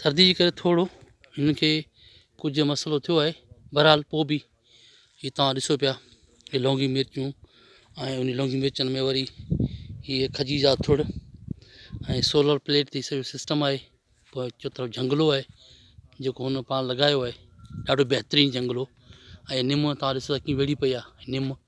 سردي جي ڪري ٿورڙو هن کي ڪجهه مسئلو ٿيو آهي بهرحال پوء به هي توهان ڏسو پيا هي لونگي مرچون ۽ ان لونگي مرچن ۾ وري هيء کجي جا ٿڙ ۽ سولر پليٽ تي سڄو سسٽم آهي پوء چو طرف جهنگلو آهي جيڪو هن پاڻ لڳايو آهي ڏاڍو بهترين جهنگلو ۽ نم توهان ڏسو ڪيئن ويڙهي پئي آهي نم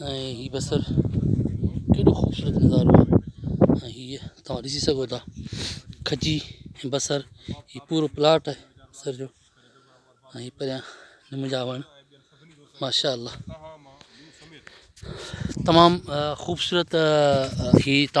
۽ هي بصر ڪيڏو خوبصورت نظارو آهي ۽ هيء توهان ڏسي سگهو ٿا کجي ۽ بصر هي پورو پلاٽ آهي بصر جو ۽ هي پريان نم جا وڻ ماشاء الله تمام خوبصورت هي توهان